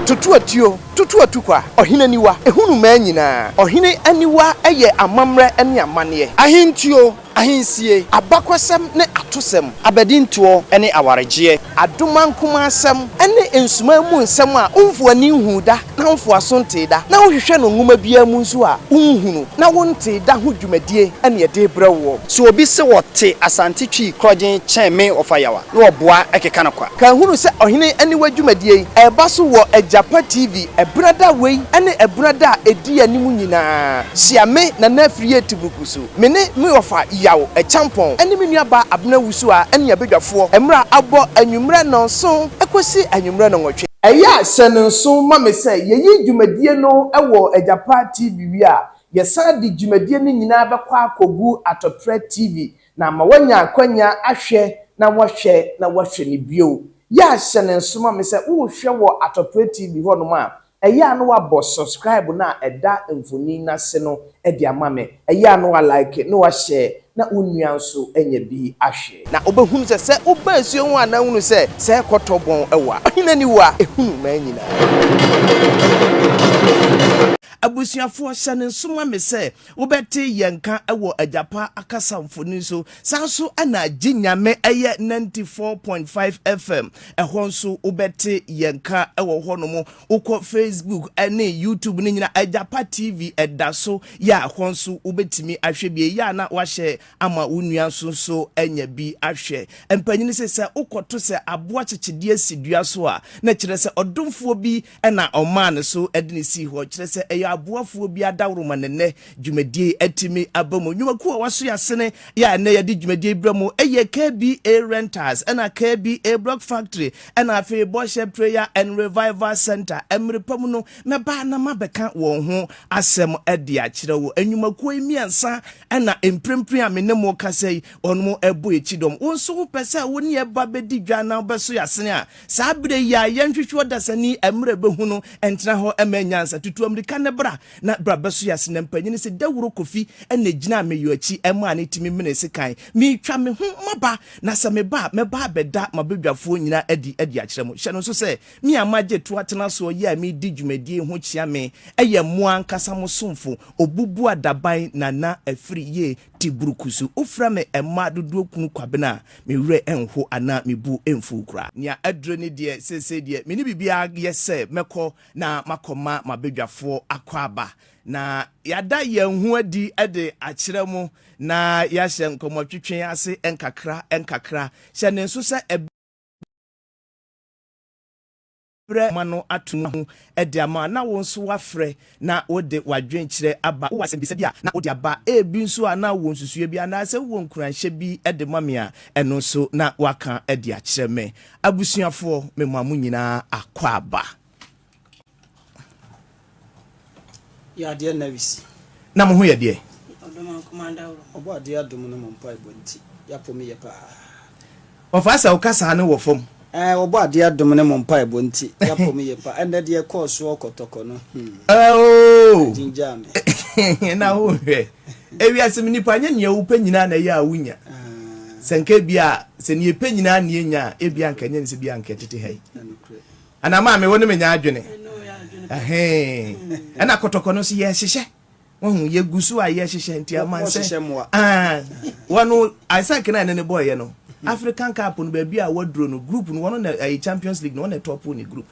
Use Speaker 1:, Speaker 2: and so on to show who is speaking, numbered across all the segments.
Speaker 1: Tutu atuo, tutu atukwa, ɔhene aniwa, ɛhu no mmaa nyinaa. Ɔhene aniwa yɛ amammerɛ ne amanneɛ. Ahentuo, ahensie, abakɔsɛm ne atosɛm, abadintoɔ ne awaregyeɛ. Adomankomasɛm ne nsumaa mu nsɛm a womfoo ani nhuu da. na wofo aso ntee da, na wohwehwɛ no nwoma biara mu nso a, wonhu no, na wontee da ho dwumadie ne ɛde brɛ woɔ. Sɛ obi se ɔte Asante Twi korɔgyen kyɛn me ɔfa yaw a, na ɔboa keka no kwa. Ka hunu sɛ Ɔhene Aniwa dwumadie yi reba so wɔ Agyapa TV Ɛberɛ da wei ne ɛberɛ da a ɛdi anim nyinaa. Hyia me, Nana Afiri Atiburuku so. Me ne me wɔfa Yaw Akyampɔn ne me nuabaa Abena Wusuwa ne abadwafoɔ mmra abɔ anwummerɛ nnɔnson kɔsi anwummerɛ nnɔnwɔtwe. Ɛyɛ a hyɛ no nsow ma me sɛ yɛyi dwumadie no wɔ Agyapa TV wie a, yɛsan de dwumadie no nyinaa bɛkɔ akɔgu Atotrɛ TV na ama wɔanya akwanya ahwɛ na wɔahwɛ na wɔahwɛ no bio. Yɛ a hyɛ no nso ma me sɛ worehwɛ wɔ Atotrɛ TV hɔnom a, Ɛyɛ a na wabɔ subscribe no a ɛda mfonin no ase no de ama me. Ɛyɛ a na wa like na wa share na wo nua nso anya bi ahwɛ. Na wobɛhunu sɛ sɛ woba asuo ho a na hunu sɛ sɛ ɛrekɔtɔ bɔn wɔ a, ɔhene ani wɔ a, ɛhunu mmaa nyinaa. Abusuafoɔ, hyɛ no nso ma me sɛ wobɛte yɛn nka wɔ Agyapa akasa mfonin so. Saa nso na Gye Nyame yɛ 94.5 FM Ɛhɔ nso wobɛte yɛn nka wɔ hɔnom. Wokɔ Facebook ne YouTube no nyinaa, Agyapa TV ɛda so yɛ a hɔ nso wobɛtumi ahwɛ bi. Ɛyɛ a na wahyɛ ama wo nua nso nso anya bi ahwɛ. Mpanyin se sɛ wokɔto sɛ aboa kyekyedeɛ si dua so a, na kyerɛ sɛ ɔdomfoɔ bi Ɛna ɔmaa ne so de no sii hɔ, kyerɛ sɛ ɛyɛ aboafoɔ bi adaworo ma ne nɛ dwumadie yi atumi aba mu. Nnwumakuo a wɔaso yɛ asene yɛ a ɛnɛ yɛde dwumadie yi brɛ mo yɛ KBA Rentals, ɛna KBA Block Factory, ɛna afei Bɔhyɛ Prayer and Revival Centre. Ɛmere pa mu no, mɛba na mabɛka wɔn ho asɛm de akyerɛ wo. Nnwumakuo yi mmiɛnsa na mprempren a me ne mo rekasa yi, wɔn bɔ yɛn kyidɔm. Wo nso wopɛ sɛ wo ne yɛn ba bɛdi dwa na wobɛso yɛ asene a, Saa bere yi a yɛnhwehwɛ ɔdasani mmerɛ ɛbɛhu no, ɛntena hɔ mma nyansa. Tutu ammirika no bra na bra bɛsoɛ ase. Na mpanin se, Dawuro Kofi na ɛgyinaa me yɔ akyi maa ne timi menee sekan. Meretwa me ho maba, na sɛ meba a, mɛba abɛda m'abadwafoɔ nyinaa adi adi akyerɛ mo. Hyɛ no nso sɛ, me a magye to atena soɔ yi a meredi dwumadie yi ho kyea me yɛ mo ankasa mo somfo, Obubuadaban Nana Afiri Yei. te buruku so. Wofrɛ me mma dodoɔ kunu Kwabena a, me werɛ nho anaa me bo mfuw koraa. Nea aduro ni deɛ, seesei deɛ, me ne biribiara yɛ sɛ mɛkɔ na makɔma m'abadwafoɔ akwaaba, na yɛada yɛn ho adi de akyerɛ mo, na yɛahyɛ nkɔmmɔtwetwe ase nkakra nkakra. Hyɛ no nso sɛ ɛberɛ a. brɛ ma no ato ne ho de ama a, na wo nso woafrɛ na wode w'adwenkyerɛ aba. Wowɔ asɛmmisa bi a, na wode aba. Ebi nso a, na wowɔ nsusuiɛ bi anaasɛ wowɔ nkuranhyɛ bi de ma me a, ɛno nso na woaka de akyerɛ me. Abusuafoɔ, memaa mo nyinaa akwaaba. Yɛ adeɛ na we si. Na mo ho yɛ deɛ. Ɔdɔ ma nkoma adaworo. Ɔbɔ adeɛ adom no mo mpaebɔ nti yɛapo me yɛ paa. Ɔfaa sɛ woka saa no wɔ fam. Ɛɛ ɔbɔ adeɛ adom no mo mpaebɔ nti yɛapo me yɛ paa ɛnɛ deɛ ɛkɔɔ soɔ kɔtɔkɔ no hmm. Ɛoo. Agyingyaa me. Ɛna wo hwɛ. Ewiase mu nipa nyɛ nea wopɛ nyinaa na ɛyɛ a wonya. Sɛ nka ebia sɛ nea epɛ nyinaa na yenya a ebia nka ɛnyɛ ne sɛ bi a nka ɛtete ha yi. Ana maa me wo ne me nyɛ adwene ɛhee ɛna kɔtɔkɔ no so yɛ hyehyɛ wahu yɛ gu so a yɛ hyehyɛ nti aman sɛ wɔn Isaac na ɛne ne bɔɔ yɛ no African Cup no baabi a waduro no group no wɔn na ɛyɛ Champions League no wɔn na ɛtɔpo ne group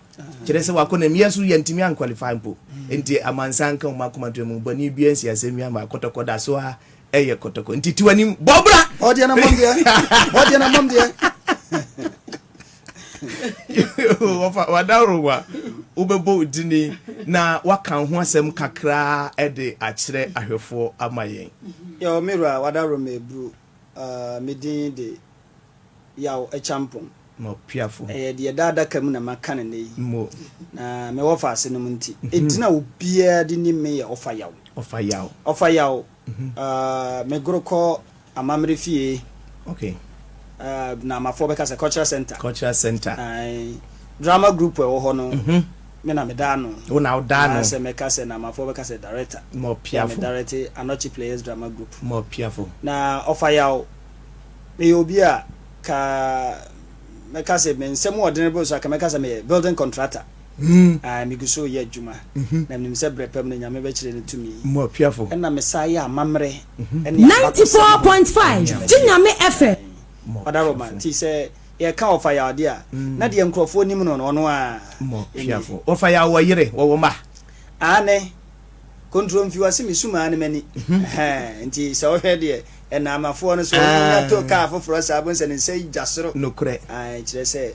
Speaker 1: kyerɛ sɛ wakɔ na mu yɛ so yɛ ntumi ankwalify mpo nti amansan ka wɔn akoma to mu bɔnni bi ansi asɛm bi ama kɔtɔkɔ da so a ɛyɛ kɔtɔkɔ nti tiwanim bɔbra ɔdeɛ na mɔm deɛ ɔdeɛ na mɔm deɛ wɔfa wadaworo wa wobɛbɔ dini na waka ho asɛm kakraa de akyerɛ ahwɛfoɔ ama yɛn. Yɛwɔ me wura wadaworo ma eburu uh, me din de yaw akyampɔn. Mo piafo. Ɛyɛ deɛ da adaka mu na maka no nnɛ yi. Mo. Na mewɔ fa ase nom nti. Enti na obiara de nim me yɛ ɔfa yaw. Ɔfa yaw. Ɔfa yaw. Uh, me goro kɔ amamere fie. Okay. Uh, na amafoɔ bɛka sɛ cultural center. Cultural center. Aye. Drama group ɛwɔ hɔ no. Mm -hmm. Me na me da ano. Wo na wo da ano. Sɛ mɛka sɛ na amafoɔ bɛka sɛ director. Mo piafo. Me direct Anɔkye Players Drama Group. Mo piafo. Na ɔfa yaw. Me yɛ obi a ka mɛka sɛ me nsɛm ɔdene bo so a ka mɛka sɛ me building contractor. Ae, migu so reyɛ adwuma, na minim sɛ bere pa mu no Nyame bɛkyerɛ ne tumi. Ɛnna mesan yɛɛ amammerɛ ne abakɔsɛm ho dwumadie. Gye Nyame fɛ. Ɔda Roma. Nti sɛ yɛka ɔfa yaw adeɛ a, na deɛ nkurɔfoɔ nim no no, ɔno ara nie. Ɔfa yaw, ɔwɔ yere, ɔwɔ mma. Aane. Kontromfi, ɔse mesum ara ne m'ani. Nti sɛ wohwɛ deɛ, ɛnna amafoɔ no so, wɔnya to kaa foforɔ saa, wobɛhu sɛ ne nsa yi gya soro. Nokorɛ. Ae, kyerɛ sɛ.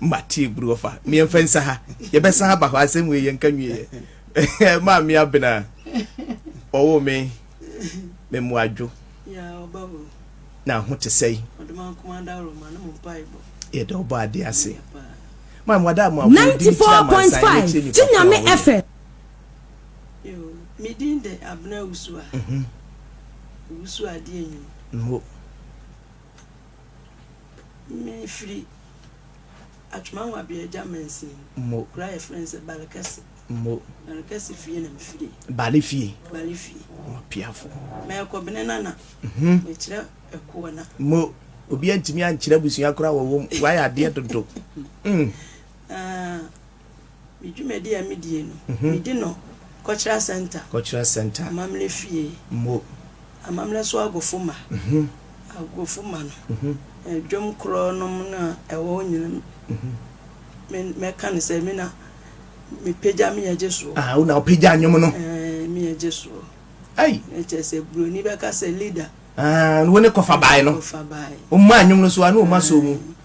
Speaker 1: Mate aburu ɔfa meɛ mfa nsa ha yɛbɛsan aba hɔ asɛm wei yɛnka nwieɛ maa me abena ɔwo me me mmoadwo na ho te sɛe yɛda ɔbɔ adeɛ ase ma mmoada a mo aboɔ di ne kyerɛ amansan ne kyerɛ nipa kora wɔyɛ medin de abena wusu a mhm. wusu adeɛ nwu Me firi Atwemangwa bea gya mansin Mo. kura yɛ frɛ no sɛ Bale kɛse. Mo. Bale kɛse fie na me firi. Bale fie. Bale fie. Mo piafo. Mɛkɔ bene nana. Mm-hmm. Me kyerɛ ɛkoɔ na. Mo. Obi antumi ankyerɛ abusua koraa wɔ wɔm. Wayɛ adeɛ dodo. Mm. Ah. Me dwumadi a midie no, medi no Kɔkyerɛ Center, Kɔkyerɛ Center, amammerɛ fie, mo, amammerɛ so agofo ma, agofo ma no, dwom korɔ nom no a ɛwɔ hɔ nyina, mɛka no sɛ me na mepagya me yɛgye soɔ. Ah, wo na wopagya nnwom no. Eh, me yɛgye soɔ. Ai. Ɛkyɛ sɛ buroni bɛka sɛ leader. Ah, no wo ne kɔfa bae no. Kɔfa bae. Ɔma nnwom no so a, no ɔma so mu.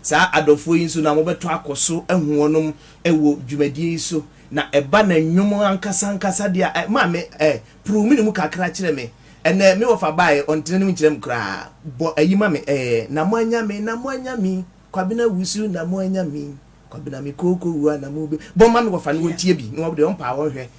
Speaker 1: Saa adɔfoɔ yi nso na mobɛtɔ akɔ so ahu wɔnom wɔ dwumadie yi so. Na ɛba na nnwom ankasa ankasa deɛ a, ma me eh, puru me ne mu kakra kyerɛ me. Ɛnɛ me wɔfa baeɛ, ɔntene ne mu nkyerɛ me koraa. Bɔ ayi ma me eh, na moanya me, na moanya me, Kwabena wusu na moanya me, Kwabena me kooko wua na mobe. Bɔ ma me wɔfa no wɔntie bi, na wɔn deɛ wɔmpaa wɔnhwɛ.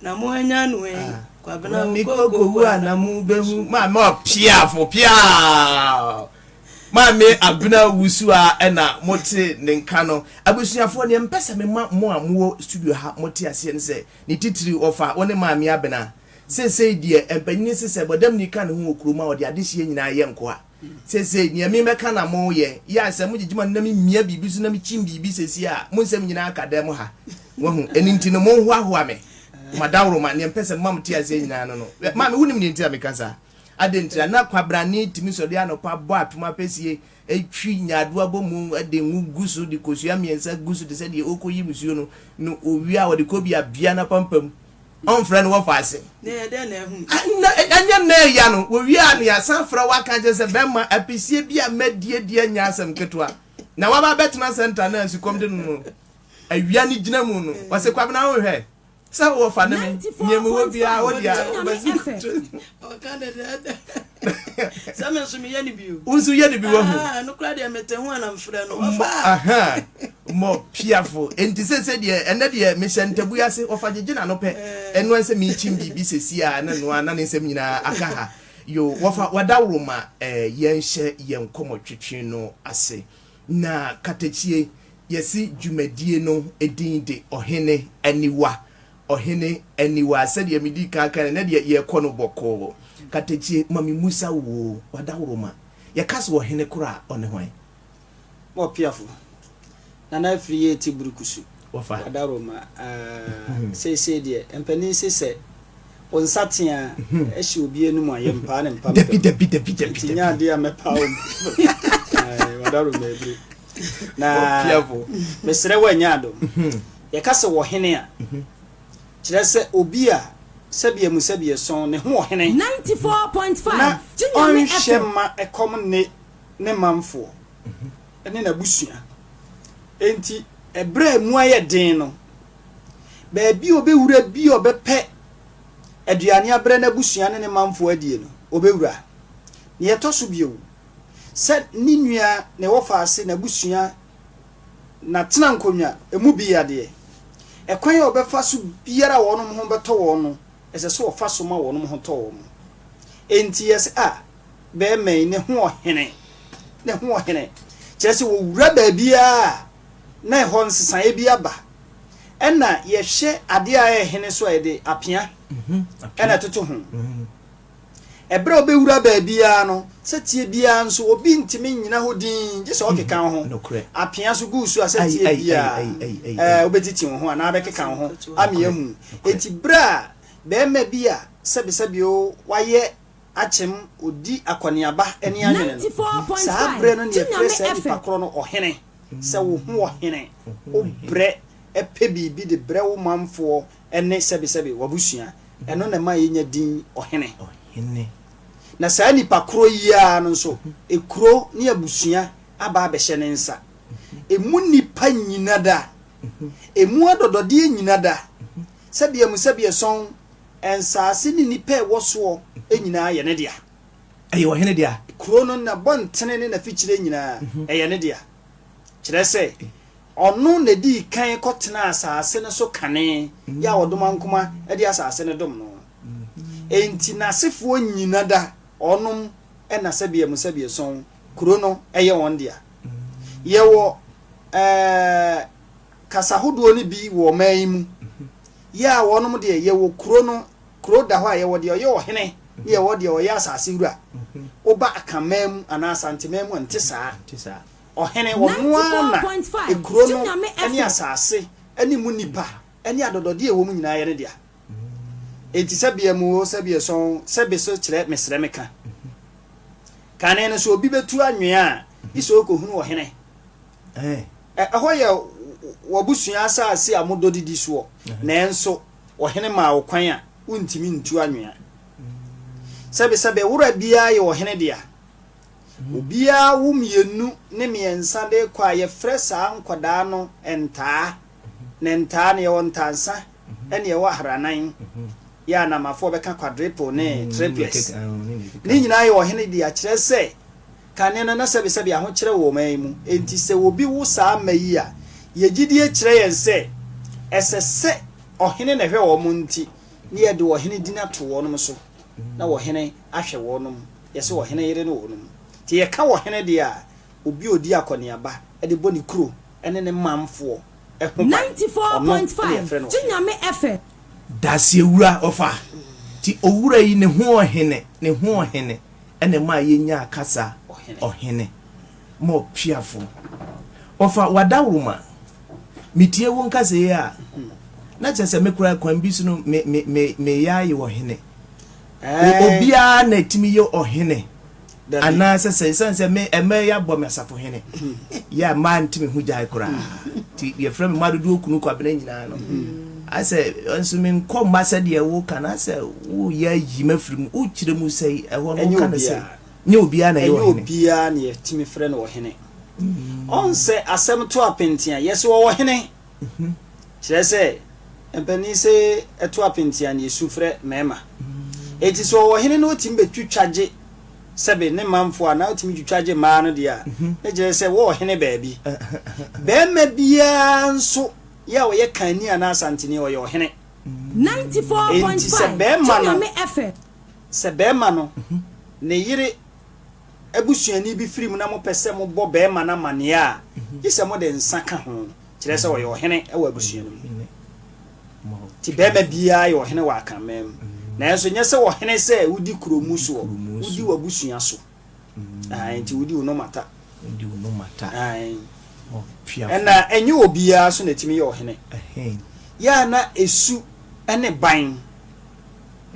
Speaker 1: Na mo anyan no ɛ yi kwabena o ko ko wu a na mo bɛ hu. Maame ɔpiafo piaa maame abena wusu a ɛna mo te ne nka no abusuafoɔ neɛ mpɛ sɛ mema mo a mowɔ studio ha mo te aseɛ no sɛ ne titiri wɔfa wo ne maame abena seesei deɛ mpanyini se sɛ bɔdam ni ka ne ho wɔ kurom a ɔde adehyeɛ nyinaa yɛ nkoa Sesei nea me mɛka na mo yɛ, yɛ a sɛ mo gyegye ma no na me mia biribi so na me kyin biribi sesei a, mo nsɛm nyinaa ka dɛm ha. Wahu? Ɛno nti no, mo nhoahoa me, mo adaworoma, nea mpɛ sɛ mema mo te aseɛ nyinaa no no. Hwɛ, Maame, wo nim nea nti a meka saa? Adɛn nti a na kwabrane tumi sɔre anɔpa bɔ apem apɛsie, twi nyaadoa bɔ mu, de ngo gu so, de kosua mmiɛnsa gu so te sɛ deɛ ɔrekɔ yi nsuo no, no owia a ɔde kɔ bi a bia na pampam. Ɔmfrɛ no wɔfa ase. Ɛnyɛ nnɛ ɛya no wɔwie a na yɛasan frɛ wo aka akyerɛ sɛ bɛrima apɛsie bi a madi adi anyɛ asɛm ketewa na woaba abɛtena centre no a nsukɔm de no no awia no gyina mu no wɔse Kwabena wonhwɛ sɛ wɔfa ne me nea mewɔ biara wode a wobɛsi ɔka dɛdɛɛdɛ sɛ me nso meyɛ no bio wo nso yɛ no bi wahu ah, no kora deɛ mete ho anamfrɛ no mmɔ piafo enti sɛ sɛ deɛ ɛnɛ deɛ mehyɛ ntabu ase ɔfa gyegye na no pɛ eh. ɛnoa sɛ mekyim biribi sɛsi a na noa na ne nsɛm nyinaa aka ha yo wɔfa wadaworo ma eh, yɛnhyɛ yɛn nkɔmmɔ twetwe no ase na katakyie yɛsi dwumadie no edin de ɔhene aniwa Ɔhene aniwa, sɛdeɛ medii kan kaeɛ no, na deɛ yɛrekɔ no bɔkɔɔ. Katakyi, ma memmisa wo oo, w'adaworoma, yɛka sɛ ɔhene korɔ a, ɔne hwan? Bɔpeafo, Nana Afiri yɛ ti biri kusu, w'adaworoma, aah, seisei deɛ, mpanin se sɛ wo nsateaa hyɛ obi anum a, yɛmpaa ne mpampam. Dabi, dabi, dabi, dabi, Enti nyɛ dabi. adeɛ a mɛpaa wo mpampam. Ae, w'adaworoma abiri. Na Bɔpeafo. mesrɛ wo, anya adom. Yɛka sɛ ɔhene a, kyerɛ sɛ obi a sɛbea mu sɛbea sɔn ne ho ɔhene na ɔnhwɛ mma ɛkɔm nne ne manfoɔ ne n'abusua. Enti ɛberɛ a ɛmu ayɛ den no, baabi a ɔbɛwura bi a ɔbɛpɛ aduane abrɛ n'abusua ne ne manfoɔ adie no, ɔbɛwura. Nea ɛtɔ so bio, sɛ ne nua, ne wɔfaase, n'abusua Na tena nkonnwa, emu bi yɛ adeɛ. Ɛkwan a wɔbɛfa so biara a wɔnom ho bɛtɔ wɔn no, ɛsɛ sɛ wɔfa so ma wɔnom ho tɔ wɔn. Enti yɛse a, bɛɛma yi, ne ho ɔhene. Ne ho ɔhene. Kyerɛ sɛ wɔwura baabiara a, na ɛhɔ nsesaeɛ bi aba. Ɛna yɛhwɛ adeɛ a ɛhene so a yɛde apea ɛna ɛtoto ho. Ɛberɛ a ɔbɛwura baabiara no, sɛteɛ biara nso obi ntumi nnyina hɔ dinn gye sɛ ɔkeka wo ho, apea so gu wo so a sɛteɛ biara ɛɛ wobɛtiti wo ho anaa abɛkeka wo ho ama yɛahu. Enti berɛ a barima bi a sɛbesɛbe o wayɛ akyem ɔdi akɔneaba ani anwene no, saa berɛ no na yɛfrɛ saa nipa korɔ no ɔhene. Sɛ wo ho ɔhene, wobrɛ pɛ biribi de brɛ wo manfoɔ ne sɛbesɛbe w'abusua. Ɛno na ɛma yenya din Ɔhene. Ɔhene. Na saa nipa koro yi ara no nso, ekuro ne abusua aba abɛhyɛ ne nsa. Emu nnipa nnyina da. Emu adɔdɔdeɛ nnyina da. Sɛbea mu sɛbea sɔn, nsaase ne nnipa a ɛwɔ soɔ nyinaa yɛ ne dea. Ɛyɛ ɔhene dea. Kuro no, n'abɔntene ne n'afikyire nyinaa, ɛyɛ ne dea. Kyerɛ sɛ. Ɔno na edii kan kɔtenaa asase no so kane yɛ a ɔdomankoma de asase no dom no. Enti n'asefoɔ nyina da ɔnom na sɛbea mu sɛbea sɔn kuro no yɛ wɔn dea. Yɛwɔ eh, kasa hodoɔ no bi wɔ ɔman yi mu yɛ a ɔnom deɛ yɛwɔ kuro no, kuro da hɔ a yɛwɔ deɛ ɔyɛ ɔhene ne yɛwɔ deɛ ɔyɛ asase wura. Woba Akanman mu anaa Asanteman mu a nte saa. Ɔhene, ɔno ara na kuro no ne asase ne mu nnipa ne adɔdɔdeɛ a ɛwɔ mu nyinaa yɛ ne dea. Enti sɛbeɛ mu oo, sɛbeɛ sɔn oo, sɛbe so kyerɛ mesrɛ me ka. Kane no, sɛ obi bɛtu anwea a, gye sɛ ɔkɔhunu ɔhene. Ɛhɔ yɛ w'abusua asase a modɔ didi soɔ, nanso ɔhene maa wo kwan a wontumi ntu anwea. Sɛbe sɛbe, wora biara yɛ ɔhene dea. Obiara wo mmienu ne mmiɛnsa de rekɔ a yɛfrɛ saa nkwadaa no ntaa. Na ntaa no yɛwɔ ntaansa ne yɛwɔ ahranan. Yɛ a Namafoɔ bɛka quadruple ne triplex. Ne nyinaa yɛ ɔhene dea kyerɛ sɛ kane no na sɛbesɛbe ahokyerɛ wɔ ɔman yi mu. Enti sɛ obi wo saa mma yi a, yɛn gyidie kyerɛ yɛn sɛ ɛsɛ sɛ ɔhene na ɛhwɛ wɔn nti na yɛde ɔhene din ato wɔn so. na ɔhene ahwɛ wɔnom, yɛse ɔhene yere ne wɔnom. Nti yɛka ɔhene deɛ a, obi a ɔdi akɔneaba de bɔ ne kuro ne ne manfoɔ ho ban, ɔno na yɛfrɛ no ɔhene. Daseɛwura ɔfa. Nti owura yi ne ho ɔhene, ne ho ɔhene na ɛmaa yɛnyaa kasa ɔhene. Mɔpeafoɔ ɔfa w'adaworoma Metie wo nkasa yi a, na kyerɛ sɛ me koraa kwan bi so no me me me meyɛ ayɛ ɔhene. Obiara na etimi yɛ ɔhene. Anaasɛ sɛ ɛsiane sɛ me ɛmɛ yɛ abɔ me asafo hene yɛ a maa ntimi ho gyae koraa nti yɛfrɛ me mmaa dodoɔ kunu kwabena nyinaa no asɛ nso me nkɔ mma sɛdeɛ woka no asɛ woyɛ ayi mafiri mu wokyerɛ mu sɛ ɛhɔ no woka no sɛ Nyɛ obiara na ɛyɛ ɔhene. Ɛnyɛ obiara na yɛtumi frɛ no ɔhene. Ɔn sɛ asɛm to apenti a, yɛse ɔwɔ hene. Kyerɛ sɛ, mpanin se ɛto apenti a na yɛsu frɛ mmarima. Enti sɛ ɔwɔ hene na ɔtumi bɛtwitwa gye sɛbe ne manfoɔ anaa ɔtumi twitwa gye mmaa no deɛ a, ne kyerɛ sɛ wɔ ɔhene baabi. Barima biara nso yɛ a ɔyɛ Kanni anaa Asanteni, ɔyɛ ɔhene. Enti sɛ barima no Sɛ barima no ne yere busuani bi firi mu na mopɛ sɛ mobɔ barima no amanneɛ a, gye sɛ mode nsa ka ho, kyerɛ sɛ ɔyɛ ɔhene wɔ abusua no mu. Enti barima biara yɛ ɔhene wɔ Akanman mu, nanso nyɛ sɛ ɔhene sɛ wodi kurow mu soɔ, wodi w'abusua so. Ae, nti wodi wo nɔma ta. Wodi wo nɔma ta. Ae. Ɔtuafo. Ɛna ɛnyɛ obiara so na ɛtumi yɛ ɔhene. Ɛhɛn. Yɛ a na esu ne ban.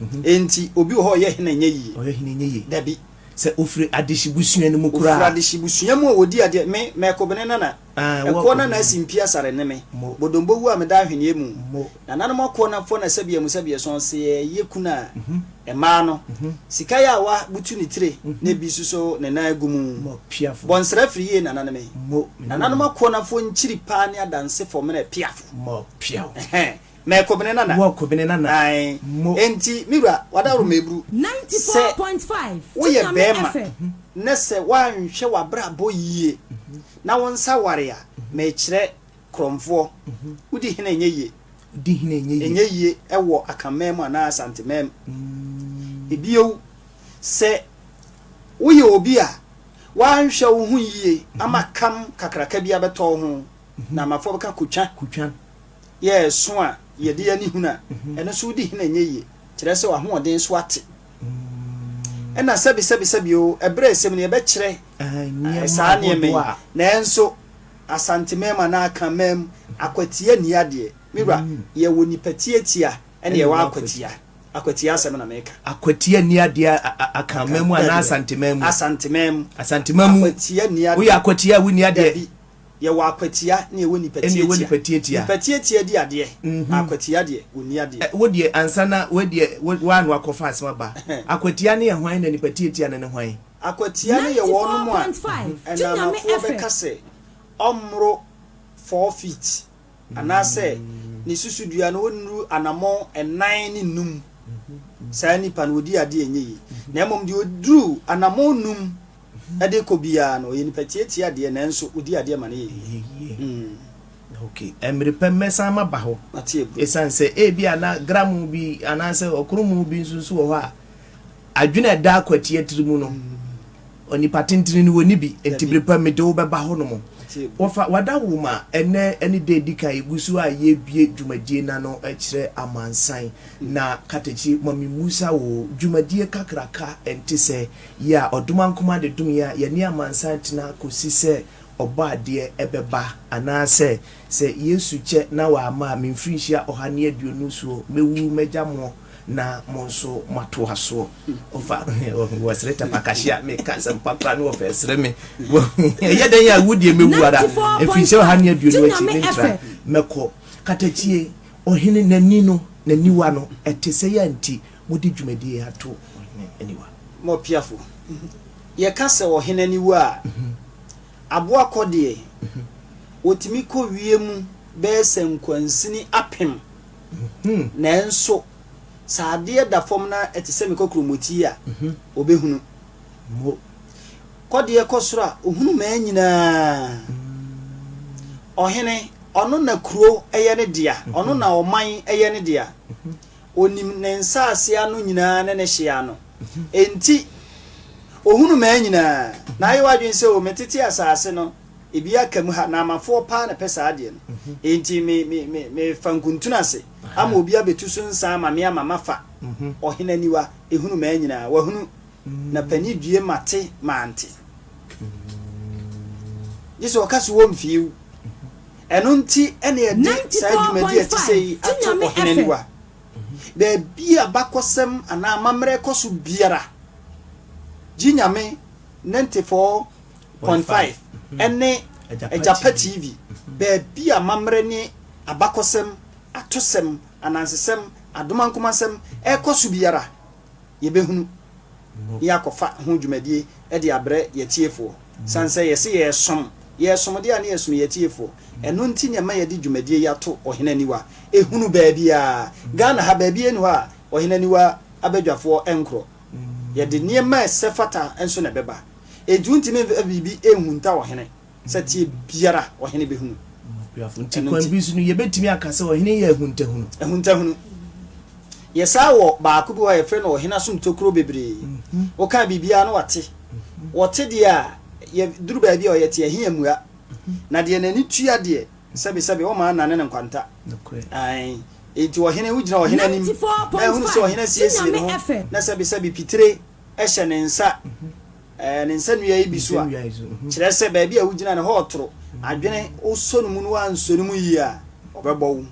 Speaker 1: Mhm. Enti obi wɔ hɔ ɔyɛ hene nyɛ yie. Ɔyɛ hene nyɛ yie. Dabi. Sɛ ofiri adehyebusua no mu koraa. Ofiri adehyebusua mu a wɔdi adeɛ me mɛkobene nana. Ɛkoɔ na na asi mpi asare ne me bodombo wu a meda ahweneɛ mu Nananom akoɔ na fɔ na sɛbiɛ mu sɛbiɛ sɔn se yɛ ye kunu a Ɛmaa no sika yɛ awa butu ne tire na ebi suso ne nan agu mu Bɔ nsra firi yie nana ne me Nananom akoɔ na fɔ nkyiri paa ne adanse fɔ mene piafo Ɛhɛɛ. Mɛ kɔ bene nana. Wɔ kɔ bene nana. Ae. Mo. Enti, me wura, w'adaworo mɛ aburu. Sɛ woyɛ bɛɛma na sɛ woanhwɛ w'abrabɔ yie na wo nsa ware a, mekyerɛ korɔmfoɔ, wodi hene ɛnyɛ yie. Di hene ɛnyɛ yie. Ɛnyɛ yie ɛwɔ Akanman mu anaa Asanteman mu. Ebio, sɛ woyɛ obi a woanhwɛ wo ho yie ama kam kakraka bi abɛtɔ wo ho na amafoɔ bɛka kotwa. Kotwa. yɛ ɛso a yɛde ani hunu a, ɛno nso wodi hene a ɛnyɛ yie, kyerɛ sɛ w'ahoɔden so ate. Ɛna sɛbe sɛbe sɛbe o, ɛberɛ a ɛsɛm no yɛbɛkyerɛ saa nneɛma yi, nanso Asantemam anaa Akanmam, akwatia nni adeɛ, me wura, yɛwɔ nipa tiatia ɛna yɛwɔ akwatia, akwatia asɛm na meka. Akwatia nni adeɛ Akanmam anaa Asantemam mu? Asantemam. Asantemam mu, woyɛ akwatia a wonni adeɛ. Yɛwɔ akwatia ne yɛwɔ nipa Ɛne yɛwɔ tiatia. nipa tiatia. Nipa tiatia di adeɛ, na akwatia deɛ, wɔnni adeɛ. Wo deɛ, ansa na wei deɛ, wo, woano akɔfa asɛm aba. Akwatia ne yɛ hwan na nipa tiatia no ne hwan? Akwatia no yɛ wɔnom a 94.5 Gye Nyame ɛnanafoɔ ɛfɛ. bɛka sɛ ɔmmoro four feet. anaasɛ ne susudua no ɔnnuru anammɔn nnan ne nnum, saa nipa no ɔdi adeɛ ɛnyɛ yie. Na mmom deɛ ɔduru anammɔn nnum de kɔ biara no, ɔyɛ nipa tiatia deɛ nanso ɔdi adeɛ ma no yɛ yie. Ok, mmere pɛ mɛsan maba hɔ. Ɛsiane sɛ ebi a na gramu bi anaasɛ ɔkoromu bi nso nso wɔ hɔ a adwene a ɛda akwati atiri mu no. Onipa tentene no wɔnni bi, enti bere pa mede wo bɛba hɔnom. Wɔfa Wada Wo Ma ɛnnɛ ne da a ɛdi kan a yɛgu so a yɛrebue dwumadie no ano kyerɛ amansan, na Katakyi, ma memmusa wo, dwumadie kakraka nte sɛ yi a Ɔdomankoma de dom yi a yɛne amansan tena kɔsi sɛ Ɔbɔadeɛ bɛba, anaasɛ sɛ Yesu kyɛ na wamma a me mfirinhyia ɔha ne aduonu soɔ mɛwu mɛgya moɔ? na mo nso moatoa soɔ ɔfa wɔsere tapakahye a meka asɛmpa koraa ne wɔfɛ sere me ɛyɛ dɛn a wu deɛ mɛwu ara ɛfiri sɛ ɔha ne aduonu akyi mentra mɛkɔ katakyie ɔhene n'ani no n'aniwa no ɛte sɛ yɛ nti mode dwumadie ato ɔhene aniwa mɔpiafo yɛka sɛ ɔhene aniwa a aboa kɔ deɛ wɔtumi kɔ wie mu bɛyɛ sɛ nkwansini apem Nanso sɛ adeɛ da fam na ɛte sɛ me kɔkorɔmɔti a, ɔbɛhunu. Kɔdeɛ kɔ soro a, ɔhunu mmaa nyinaa. Ɔhene, ɔno na kuro yɛ ne dea, ɔno na ɔman yɛ ne dea. Ɔnim ne nsase ano nyinaa ne ne hyeɛ ano. Enti ɔhunu mmaa nyinaa. Na ayɛ w'adwene sɛ, O, metete asase no. Ebi aka mu ha, Naamafoɔ paa na ɛpɛ saa adeɛ no. Enti me, me, me, mefa nkuntunu ase ama obi abɛtu so nsa ama me ama mafa. Ɔhene aniwa, ɛhunu mmaa nyinaa. Wahunu. Na pani due mate, mante. Gye sɛ ɔka so wɔ mfeew. Ɛno nti na yɛde saa dwumadi a ɛte sɛ yi ato Ɔhene Aniwa. Baabi a abakɔsɛm anaa amammerɛ kɔ so biara, gye Nyame, Nantefɔɔ, Point Five ne Agyapa TV, baabi a amammerɛ ne abakɔsɛm, atosɛm, anansesɛm, adomankomasɛm rekɔ so biara, yɛbɛhunu na yɛakɔfa ho dwumadie de abrɛ yɛatiefoɔ. Sane sɛ yɛse yɛresom, yɛresom deɛ a na yɛsom yɛatiefoɔ. Ɛno nti na ɛma yɛde dwumadie yi ato Ɔhene Aniwa. Ɛhunu baabiara. Ghana ha, baabiara nni hɔ a Ɔhene Aniwa abadwafoɔ nkorɔ. Yɛde nneɛma a ɛsɛ fata nso na ɛbɛba. Enti wontumi mfa biribi nhunta ɔhene sɛteɛ biara a ɔhene bɛhunu. Okuafo. Enti kwan bi so no, yɛbɛtumi aka sɛ ɔhene yɛ ahuntahunu. Ahuntahunu. Yɛ saa wɔ baako bi hɔ a yɛfrɛ no ɔhene asom tokuro bebree. Woka biribiara na wate. Ɔte deɛ a, yɛ duru baabi a ɔyɛ te, ɛhe ammua. Na deɛ n'ani tua deɛ, Sɛbe sɛbe wo maa nane ne nkwanta. Nokorɛ. Ae. Enti ɔhene, wo gyina ɔhene anim, na ɛhunu sɛ ɔhene asiesie ne ho, na sɛbe sɛbe pitire hyɛ ne nsa, ɛɛ, ne nsa nua yi bi so a, kyerɛ sɛ baabi a wo gyina no, hɔ ɔtoro, adwene, wo sɔ no mu na woansɔ no mu yie a, ɔbɛbɔ wo.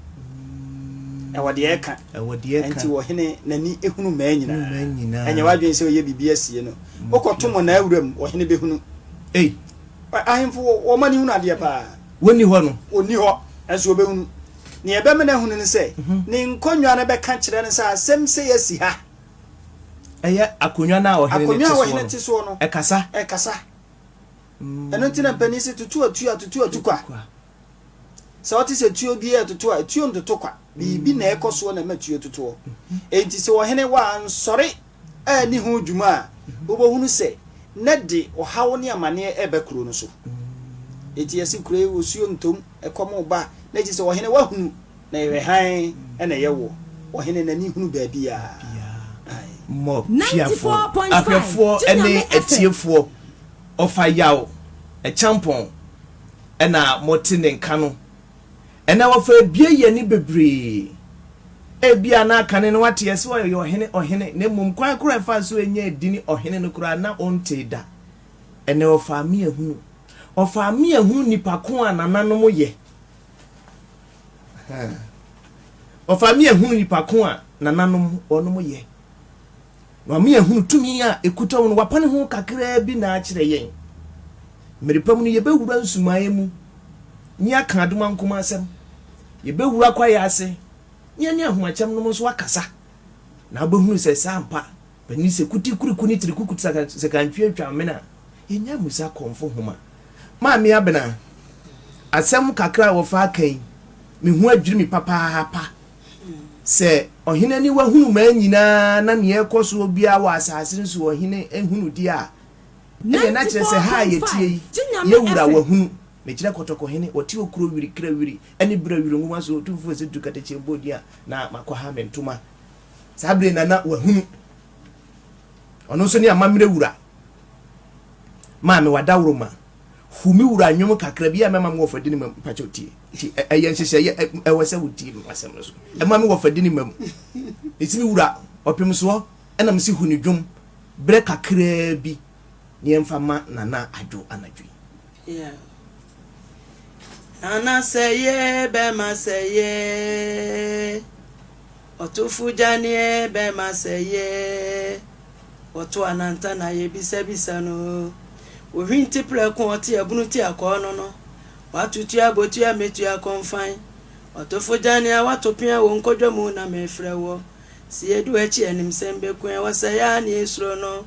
Speaker 1: Ɛwɔ deɛ ɛka. Ɛwɔ deɛ ɛka. Enti ɔhene, n'ani hunu mmaa nyinaa. Ɛnyɛ w'adwene sɛ ɔyɛ biribi asie no. Wokɔto mmonnaa wuram, ɔhene bɛhunu. Ei. Ahemfo, wɔn ani hunu adeɛ paa. Wɔnni hɔ no. Ɔnni hɔ, nanso wɔbɛhunu. Nea ɛbɛma no ahunu ne sɛ, ne nkonnwa no bɛka kyerɛ no sɛ asɛm sei asi ha. Ɛyɛ akonnwa no a ɔhene no te soɔ no. Akonnwa a ɔhene te soɔ no. Ɛkasa. Ɛkasa. Ɛno nti na mpanin se tutu atuo a tutu atu kwa. Sɛ wote sɛ tuo bi ɛtoto a, tuo ntoto kwa. Biribi na ɛkɔ soɔ na ɛma tuo totoɔ. Enti sɛ ɔhene wa ansɔre. anni ho dwuma a, wobɛhunu sɛ na de ɔhaw ne amaneɛ reba kuro no so. Enti yɛse kuro yi osuo ntom, ɛkɔm reba, na enti sɛ ɔhene wahunu na yɛhwɛ hann na ɛyɛ woɔ, ɔhene n'ani hunu baabiara. Mmɔ Piafoɔ ahwɛfoɔ ne atiefoɔ ɔfa yaw, Kyampɔn na mote ne nka no Ɛnnɛ wɔfa abue yɛ ani bebree. Ebia na kane no wate yɛse ɔyɛ ɔhene ɔhene na mmom kwan koro a ɛfaa so nyaa edini ɔhene no koraa na ontee da. Ɛnnɛ ɔfa ame ahunu. Ɔfa ame ahunu nipa ko a nananom yɛ. Ɔfa ame ahunu nipa ko a nananom wɔnom yɛ. Ma me ahunu tumi a ɛkuta wo no, wapane ho kakraa bi na akyerɛ yɛn. Mmere pa mu no, yɛbɛwura nsumaeɛ mu ne aka adom ankom asɛm, yɛbɛwura kwaeɛ ase ne yɛne ahomakyɛm nom nso akasa, na wobɛhunu sɛ sɛ ampa Panin sɛ kuti kuriku ne tiri kuku sɛ sɛ kantwie atwa amena a, yɛnya mmusa kɔmfo nhoma. Maame Abena, asɛm kakra a wɔfa aka yi, me ho adwiri me papaapa. Sɛ ɔhene aniwa hunu mmaa nyinaa na nea ɛrekɔ soɔ biara wɔ asase no so ɔhene hunu deɛ a, ɛdeɛ na kyerɛ sɛ ha a yɛtie yi, yɛn wura wahunu. Mekyerɛ kɔtɔkɔhene, ɔte okuro wiri kra wiri ne berɛ wiri nwoma so, otumfoɔ sɛ tu katakye bɔ din a, na makɔha me ntoma. Saa berɛ na na wahunu. Ɔno nso ne amammerɛ wura. Maame wadaworoma, Hu me wura nnwom kakra bi a mɛma me wɔfa di ne mam mpakyɛw tie nti ɛyɛ nhyehyɛeɛ ɛwɔ sɛ wotie me asɛm no so ɛma me wɔfa di ne mam ɛsi me wura ɔpem soɔ ɛna mesi hu ne dwom berɛ kakraa bi ne yɛmfa ma nana adwo anadwo yi yeah. Nana sɛ ye bɛma sɛ ye Ɔtofo gya ne bɛma sɛeɛ. Ɔto ananta na yɛ bisabisa no. Ɔhwinti prɛko ɔte abunu ti akɔɔ no no. Wato tua botua mɛtua kɔnfan. Ɔtofo gya ne a wato pea wɔ nkɔdwa mu na mɛfrɛ woɔ. Sɛ yɛdu akyi animsɛm bɛku ɛ wɔ sɛeɛ a ne yɛ suro no.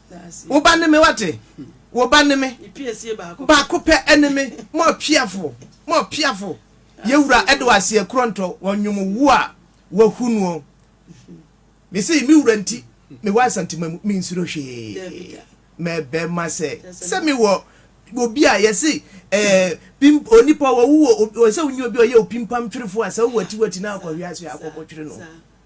Speaker 1: Wo ba ne me, wate? Wo ba ne me. Baako pɛ ne me. More piafo, more piafo. Yɛwura ɛde wɔ aseɛ korɔ ntɔ wɔ nnwom wo a wahu noɔ. Me se me wura nti me wɔ asantema mu me nsuro hwee. Mɛbɛ ma sɛ sɛ me wɔ obi a yɛse ɛɛ onipa wɔ wo wɔ sɛ wonyi obi a ɔyɛ opimpam twerefo a sɛ wowɔ atiwati na akɔhwe ase akɔkɔtwere no.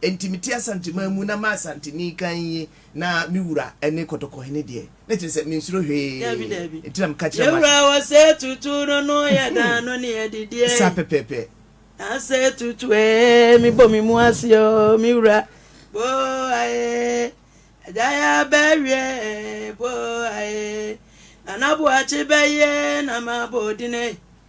Speaker 1: Enti mete Asanteman mu na m'Asanteni kann yi na me wura ne Kɔtɔkɔhene deɛ. Na kyerɛ sɛ mensuro hwee. Dabi, dabi. Enti na meka kyerɛ Yɛn wura wɔ sɛ tutu no no yɛ dan no ne adi deɛ. Saa pɛpɛɛpɛ. Na sɛ tutu ee, me bɔ me mu ase o, me wura. Boa ee, agya yɛ abɛ awie ee, boa ee. Nana Boakye bɛyɛ na ma bɔ odin ee.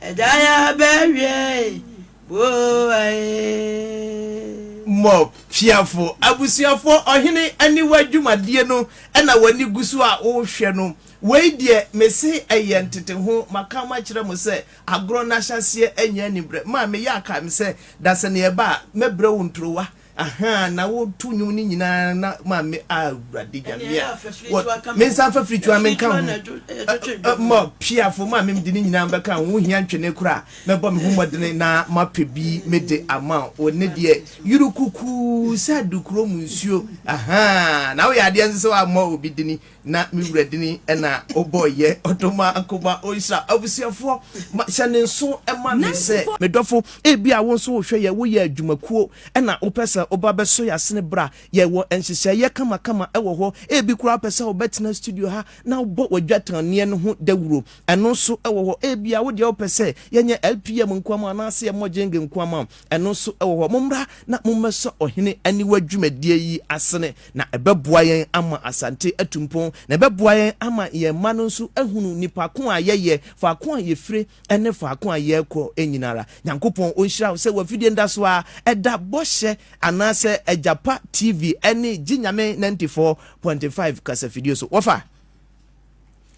Speaker 1: Ɛda ya bɛ wiɛ e, boa e. Mob, Fiafo, Abusuafo, Ɔhene Aniwa dwumadie no na w'ani gu so a worehwɛ no. Wei deɛ, mese ɛyɛ nteteho. Maka makyerɛ mo sɛ, agorɔ no ahyɛaseɛ nyɛ aniberɛ. Maa meyɛ a, kae me sɛ, da sɛ neɛ ɛba a, mɛbrɛ wo ntorowa. Ahaa na wo to nwom no nyinaa na ma me ah awurade nyame a wɔ me nsa mfa firitua me nka ho ma piafo ma me de ne nyinaa bɛka ho hia ntwene kora mɛbɔ me ho mmɔdene na mapɛ bi me de ama wo ne deɛ yuru kuku sɛ adukuro mu nsuo ahaa na woyɛ adeɛ nso sɛ woammɔ obi dini Na me wura dini ɛna ɔbɔ yɛ ɔdɔ ma nkoma ɔnhyira abusuafoɔ ma hyɛ ne nso ɛma me sɛ. Me dɔfo ebi a wonso wohwɛ yɛ woyɛ adwuma kuo ɛna wopɛ sɛ woba bɛ sɔ yɛ asene bra yɛ wɔ nhyehyɛɛ yɛ kama kama ɛwɔ hɔ ebi koraa wopɛ sɛ wobɛ tena studio ha na wobɔ wadwatan neɛ no ho dawuro ɛno nso ɛwɔ hɔ ebia wodeɛ wopɛ sɛ yɛ nyɛ LPM nko ama wo anaasɛ yɛ mɔ gyenge nko ama wo Ɛno nso wɔ hɔ. Mommra na mommɛsɔ ɔhene aniwa dwumadie yi asene, na ɛbɛboa yɛn ama Asante atu mpɔn, na ɛbɛboa yɛn ama yɛn mma no nso ahunu nnipa ko a yɛyɛ, faako a yɛfire ne faako a yɛrekɔ nyina ara. Nyankopɔn ɔnhyira wo sɛ w'afidie nda so ara ɛda Bɔhyɛ anaasɛ Agyapa TV ne Gye Nyame 94.5 kasafidie so. Wɔfa.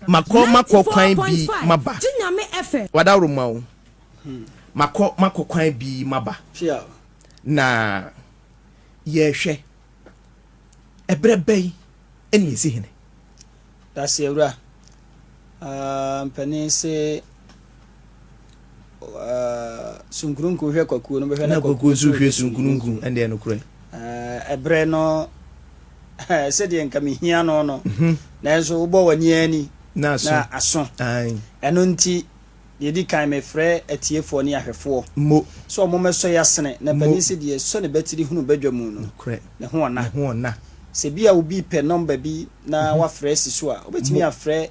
Speaker 1: Makɔ makɔ kwan bi maba. Wadaworo ma o. Makɔ makɔ kwan bi maba. Na yɛhwɛ ɛberɛ bɛn ɛna yɛsi hene. Daseɛ wura. Aah mpanin se sunkununku hwɛ kwakuo no bɛhwɛ na kwakuo nso hwɛ sunkununku ɛndeɛ no korɛ ɛberɛ no sɛdeɛ nka mehia no no mhm. nanso wobɔ w'ani ani na aso ɛno nti deɛ ɛdi kan mefrɛ atiefoɔ ne ahwɛfoɔ mo sɛ ɔmomɛsɔ yɛ asene na pani sɛ deɛ sɔ ne batiri hunu badwa mu no ne ho ɔna sɛ bi a wobi pɛ nɔmba bi na mhm. wafrɛ si so a wobɛtumi afrɛ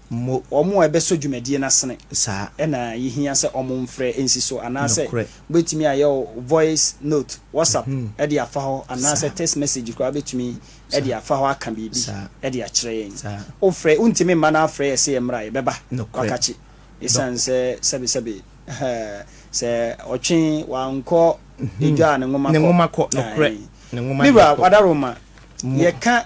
Speaker 1: mmɔ. Wɔn a ɛbɛsɔ dwumadie no asene. Saa. Na yɛhia sɛ wɔmfrɛ nsi so anaasɛ. Nokorɛ. Wobɛtumi ayɛ wo voice note, WhatsApp, de afa hɔ anaasɛ. Saa. Text message koraa wobɛtumi Saa. de afa hɔ aka biribi Saa. de akyerɛ yɛn. Saa. Wofrɛ, wontumi mma no afrɛ yɛ sɛ yɛmmra a, yɛbɛba, Nokorɛ. wakakye. Dɔ. Esiane sɛ sɛbesɛbe, hɛɛ, sɛ ɔtwe wankɔ edwa a ne nwoma kɔ. Ne nwoma kɔ, nokorɛ. Ae. Ne nwoma deɛ kɔ. Me wura, wadaroma, Mmɔ. yɛka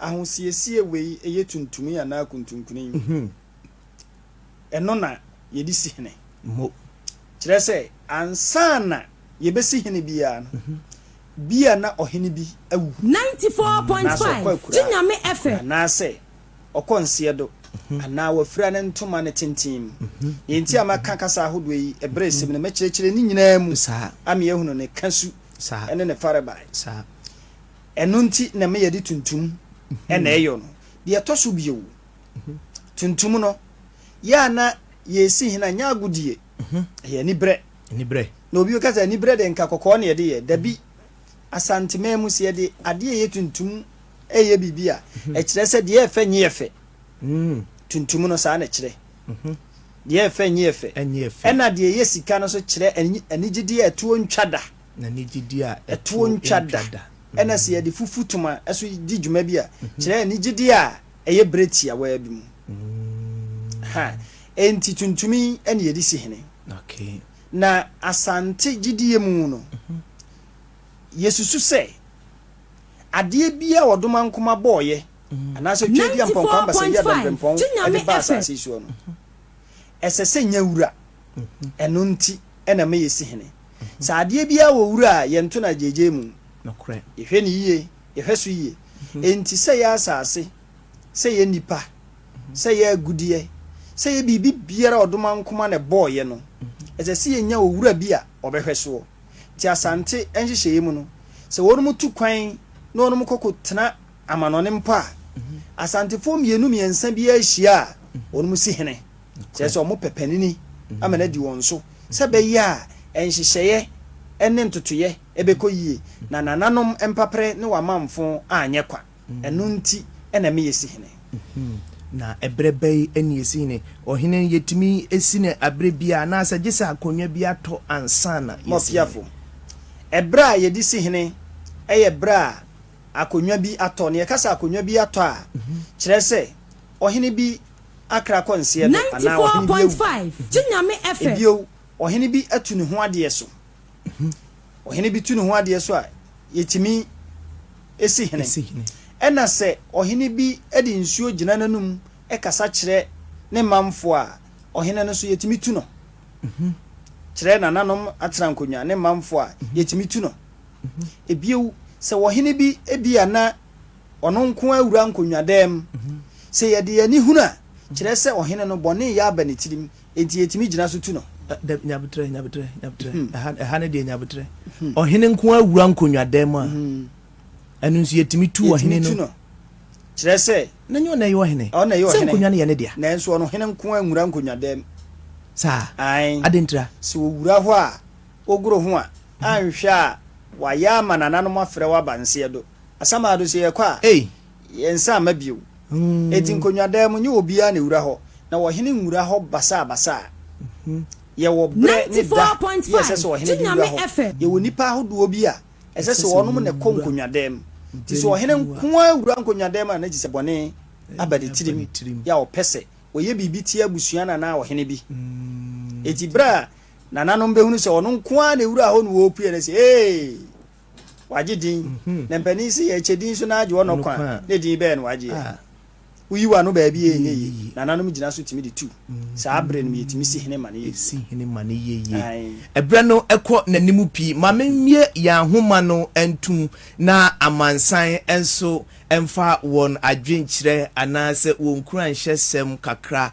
Speaker 1: Ahosiesie wei yɛ tuntumii anaa kuntunkuni. Ɛno na yɛde si hene. Kyerɛ sɛ, ansa na yɛbɛsi hene biara no, bia na ɔhene bi awu, anaasɛ ɔkɔ akuraa, anaasɛ ɔkɔ nseɛdo, anaa wafira ne ntoma ne tenten mu. Deɛ nti a mɛka kasa ahodoɔ yi ɛberɛ resem no, mɛkyerɛkyerɛ ne nyinaa mu ama yɛahunu ne kasu ne ne farebae. Ɛno nti na me yɛde tuntum na ɛyɔ no. Deɛ ɛtɔ so bio, tuntum no, yɛ a na yɛsi hena nyɛ agodie, ɛyɛ anibrɛ. Anibrɛ. Na obi bɛka sɛ anibrɛ de nka kɔkɔɔ na yɛde yɛ. Dabi, Asanteman mu sɛ yɛde adeɛ ɛyɛ tuntum ɛyɛ biribi a, ɛkyerɛ sɛ deɛ ɛfɛ nyɛ fɛ. Tuntum no saa na ɛkyerɛ. Deɛ ɛfɛ nyɛ fɛ. Ɛna deɛ ɛyɛ sika no nso kyerɛ anigyedeɛ a ɛtoɔ ntwa da. Na ne gyidi a ɛtoɔ ntwa da. Ɛna sɛ yɛde fufu toma nso di dwuma bi a, mhm. kyerɛ ne gyidi a ɛyɛ berɛ tiawaa bi mu. Mm. Ha, enti tuntumi ɛna yɛde si hene. Okay. Na asante gyidie mu no, mhm. yɛsusu sɛ adeɛ bi a ɔdoma nkoma bɔɔyɛ mhm. anaasɛ twa di ampɔnkwa mbasa yi adɔmprempɔn ɛde ba asase soɔ no, ɛsɛ sɛ nya wura. ɛno nti na meyɛ si hene. Sɛ adeɛ biara wɔ wura a, yɛnto no agyeegyee mu. Yɛhwɛ no yie, yɛhwɛ so yie. Enti sɛ yɛ asase, sɛ yɛ nnipa, sɛ yɛ agudeɛ, sɛ yɛ biribi biara a Ɔdomankoma na ɛbɔɔeɛ no, ɛsɛ sɛ yɛnya owura bi a ɔbɛhwɛ soɔ. Nti Asante nhyehyɛeɛ mu no, sɛ wɔnom tu kwan na wɔnom kɔkɔtena amanɔne mpo a, Asantefoɔ mmienu mmiɛnsa biara hyia a, wɔnom si hene. kyerɛ sɛ wɔpɛ panini ama no adi wɔn so sɛ ɛbɛyɛ a nhyehyɛeɛ ne ntotoeɛ bɛkɔ yie na nananom mpaperɛ ne w'amanfo anyɛ kwa. Ɛno nti na ɛme yɛsi hene. Na ɛberɛ bɛn na yɛsi hene? Ɔhene no yɛtumi si no aberɛ biara anaasɛ gye sɛ akonnwa bi atɔ ansa na yɛasi hene? Mɔfiafo, Ɛberɛ a yɛde si hene yɛ ɛberɛ a akonnwa bi atɔ. Na yɛka sɛ akonnwa bi atɔ a, kyerɛ sɛ ɔhene bi akra kɔ nseɛ do ninety anaa four ɔhene bi point awu. five Gye Nyame fɛ. Ebio, ɔhene bi atu ne ho adeɛ so. Ɔhene bi tu ne ho adeɛ so a, yɛtumi si hene. Si hene. Ɛna sɛ ɔhene bi de nsuo gyina n'anum kasa kyerɛ ne manfoɔ a, ɔhene no nso yɛtumi tu no kyerɛ nananom aterankonwa ne manfoɔ a, yɛtumi tu no. Ebio, sɛ ɔhene bi ebia na Ɔno nko ara wura nkonnwadan mu. Sɛ yɛde yɛn ani hunu a, kyerɛ sɛ ɔhene no, bɔne reyɛ aba ne tirim, enti yɛtumi gyina so tu no. Dabi, nya aboterɛ, nya aboterɛ, nya aboterɛ. Ɛha, ɛha no deɛ, nya aboterɛ. Ɔhene nko ara wura nkonnwadan mu a, ɛno nso yɛtumi tu ɔhene no. Yɛtumi tu no. Kyerɛ sɛ. Na nyɛ ɔna ɛyɛ ɔhene. Ɔna ɛyɛ ɔhene. Sɛ nkonnwa no yɛ ne dea. Nanso ɔno hene nko ara nwura nkonnwadan mu. Saa? Ae. Adɛn ntira? Sɛ ɔwura hɔ a, ɔgoro ho a, anhwɛ a wayɛ ama nananom afrɛ wo aba nseɛdo. Asamado sɛ yɛkɔ a yɛn nsa mma bio. Enti nkonnwadaa mu nyɛ obiara na ɛwura hɔ, na ɔhene nwura hɔ basaabasaa. Yɛwɔ berɛ ne da bi a ɛsɛ sɛ ɔhene de wura hɔ. Yɛwɔ nnipa ahodoɔ bi a ɛsɛ sɛ wɔnom na ɛkɔ nkonnwadaa mu. Nti sɛ ɔhene nko ara wura nkonnwadaa mu a na gye sɛ bɔne aba ne tirim yɛ a ɔpɛ sɛ ɔyɛ biribi tia abusua no anaa ɔhene bi. Enti berɛ a nananom bɛhunu sɛ ɔno nko ara na ɛwura hɔ no wɔpue na ɛsɛ ee! wagye din na mpanin se yɛkyɛ din so na agye ɔno kwa a, ne din bɛyɛ no wagye a. Woyi w'ano baabi a ɛnyɛ yie. Nananom gyina so tumi de tu. Saa bere no mu yɛtumi si hene ma no yɛ yie. Aane. Berɛ no kɔ n'anim pii. Ma memmue yɛn ahoma no ntom na amansan nso mfa wɔn adwenkyerɛ anaasɛ wɔn nkuranhyɛsɛm kakra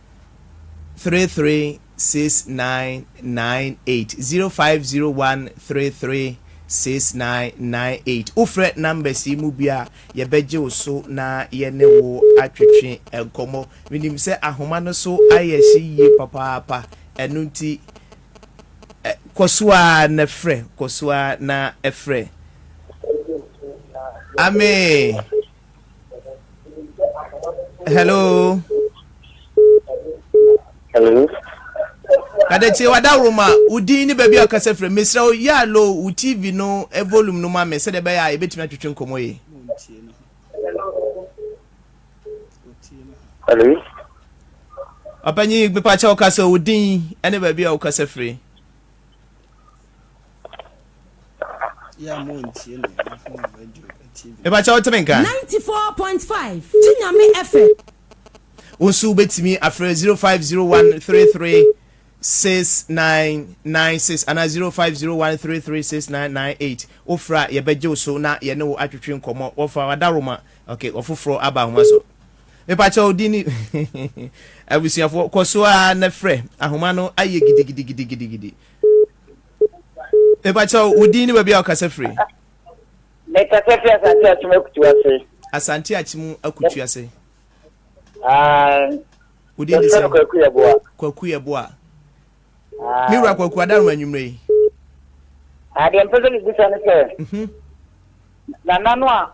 Speaker 1: three three six nine nine eight zero five zero one three three six nine nine eight wofrɛ numbers yi mu bi a yɛbɛgye wo so na yɛne wo atwetwe nkɔmmɔ menim sɛ ahoma no so ayɛ hye yie papaapa ɛno nti kɔ so a na frɛ kɔ so a na frɛ amee hello hello adetie wadaworo ma wo din ne baabi a ɔkasa firi mesrɛ wo yɛ alo wo tv no eh, volume no ma me sɛdeɛ ɛbɛyɛ a yɛbɛtumi atwetwe nkɔmmɔ yi hello ɔpanyi mepakyɛ wokasa wo din ne baabi a wokasa firi ɛbakyɛ wotumi nka 94.5 gye nyame ɛfɛ wo nso wobɛtumi afrɛ 0501336996 anaa 0501336998 wofrɛ a yɛbɛgye wo so na yɛne wo atwetwe nkɔmmɔ wɔfa wadaroma okay wɔfoforɔ aba ahoma so Mepakyɛw, din ni? Abusuafoɔ, kɔ so ara na frɛ. Ahoma no ayɛ gidigidigidigidi. Mepakyɛw, wo din ne baabi a wokasa firi? Mekasa firi Asante Akyem Akutu ase. Asante Akyem Akutu ase. Wo din ne sɛ? Kwaku Yɛboa. Kwaku Yɛboa. Me wura Kwaku Adaroma anwummerɛ yi. Adeɛ mpɛ sɛ mebisa ne sɛ, mhm. nana no a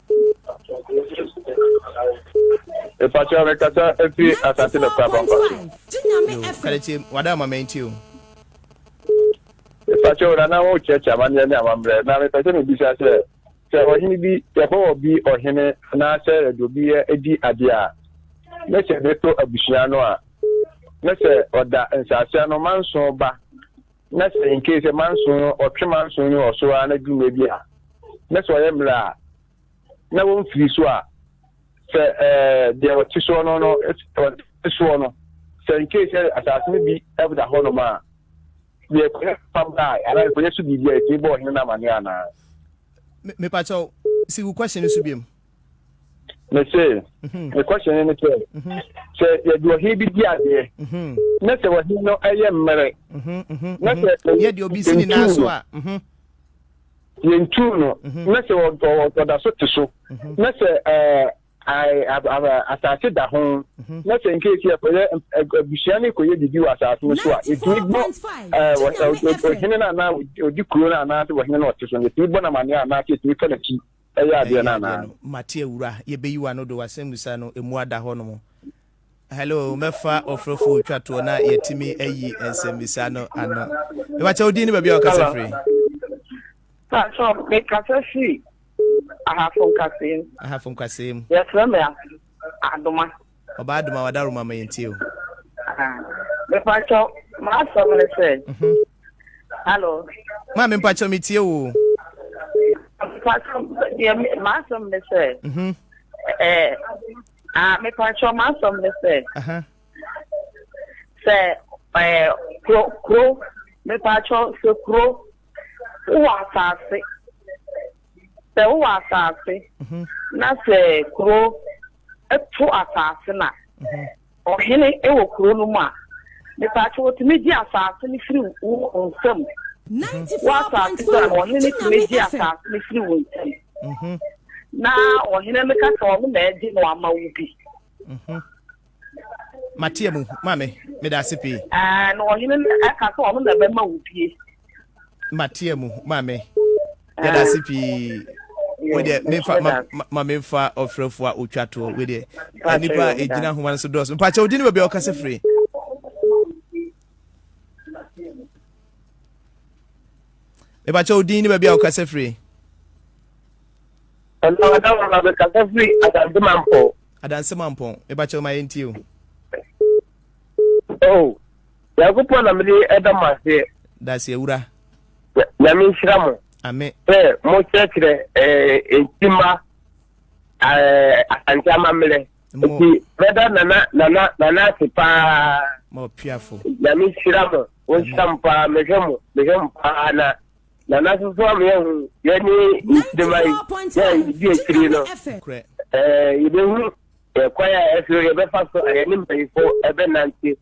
Speaker 1: Mpatsɔ mi kasa efi asante na kura pampa so. Kàdétsé wà dá àmà mẹ́yìn tí o. Mpatsɔ wò nana wò kyerẹ́kyerẹ́ amanneɛ ne amammerɛ na mepɛ sɛ mebisa sɛ sɛ ɔhene bi yɛbɛwɔ bi ɔhene anaasɛ yɛde obi yɛ di adeɛ a ne sɛ de to abusua no a ne sɛ ɔda nsase ano manso ba na sɛ in case manson no ɔtwe manson no wɔ so ara na duru mmerɛ bi a na sɛ ɔyɛ mmerɛ a na wɔmfiri so a sɛ ɛɛ deɛ ɔte soɔ no no ɔte soɔ no sɛ in case sɛ asase no bi ɛda hɔ nom a deɛ kɔyɛ pam a anaa kɔyɛ so biribi a ɛtumi bɔ ɔhene no amanneɛ anaa. mepakyɛw si wo question no so biam me se mhm. me question ne sɛ mhm. sɛ yɛde ɔhe bi di adeɛ mhm. na sɛ ɔhe no ɛyɛ mmerɛ na sɛ yɛde obi si ne nan so a yɛntu no na sɛ ɔda so te so na sɛ asase da ho na sɛ nkeesi ɛkɔyɛ abusua no kɔyɛ biribi wɔ asase no so a ɛtumi bɔ ɔhene no anaa ɔdi kuro no anaasɛ ɔhene no ɔte so no ɛtumi bɔ namaneɛ anaasɛ ɛtumi fa n'akyi Ɛyɛ adeɛ no anaa? no mate awura yɛbɛyi wano do wasɛmmusa no ɛmu ada hɔ nom Hello mɛfa ɔfrɛfoɔ twa toɔ na yɛtumi ayi nsɛmmisa no ano mebakyɛ wodin ne baabi a ɔkasa firi Pakyɛ mekasa firi ahafo nkaseɛ mu ahafo nkaseɛ mu yɛfrɛ me adoma ɔbaa adoma wadaroma ma yɛntie o mepakyɛ maasɛm ne sɛ mhm. Hello. Maame mpakyɛ mi tie wo. Mpakyɛ deɛ m'asɛm ne sɛ. Mhm. Ɛɛ eh, ah mepakyɛ m'asɛm ne sɛ. Sɛ ɛɛ eh, kuro kuro mepakyɛ sɛ kuro wowɔ asaase sɛ wowɔ asaase mhm. na sɛ kuro ɛto asaase na. Mhm. Ɔhene wɔ kuro no mu a, mepaakyɛw otumi gye asaase no firi wo nsam. Wɔ asaase so a, ɔhene tumi gye asaase no firi wo nsam. Na ɔhene no ka sɛ ɔno na agye no ama wo bi. Matea mu, maame, meda ase pii. Ɛɛ, na ɔhene no ka sɛ ɔno na ɛbɛma wo bie. Matea mu, maame. yɛda ase pii wei deɛ mefa ma, ma, ma memfa ɔfrɛfoɔ a ɔtwa toɔ wei deɛ nnipa a ɛgyina homa no so dɔɔso mpakyɛ wodi ne baabi a ɔkasa firi mepakyɛ wodin ne baabi a wokasa firi adanse mampɔn mepakyɛ ma yɛntie o oh. Nyankopɔn na mede ɛda mo aseɛ. Dase awura. Nyame nhyira mo. Ame. Sɛ mo kyerɛkyerɛ ɛɛ ntima ɛɛ asante amammerɛ. Mo. Nti brɔda nana nana nana ase paa. Mo piafo. Nyame nhyira mo. Wɔn nhyira mo paa mehwɛ mo mehwɛ mo paa na nana soso a meyɛ ho yɛ ne ntima yi yɛ yɛdi akyiri no. Ɛɛ yɛbɛhu ɛkwan a ɛso yɛbɛfa so a yɛne mpanyinfo ɛbɛnante.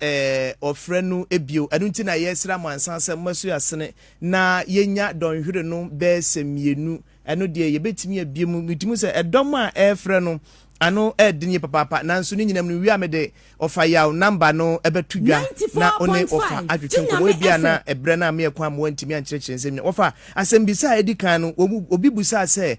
Speaker 1: Ɔfrɛ no bio. Ɛno nti na yɛsra mo ansa sɛ moasu asene na yɛnya dɔnhwere no bɛyɛ sɛ mmienu. Ɛno deɛ yɛbɛtumi abue mu. Metumi hu sɛ ɛdɔm a ɛrefrɛ no ano ɛɛden yie papaapa nanso ne nyinam no wia me de ɔfa yaw number no bɛto dwa na ɔne ɔfa atwetwe nkɔmmɔ ebia na ɛbrɛ no a meɛ kwan ma wantumi ankyerɛkyerɛ nsɛm nyina. Ɔfa, asɛmbisa a ɛdi kan no obi busaa sɛ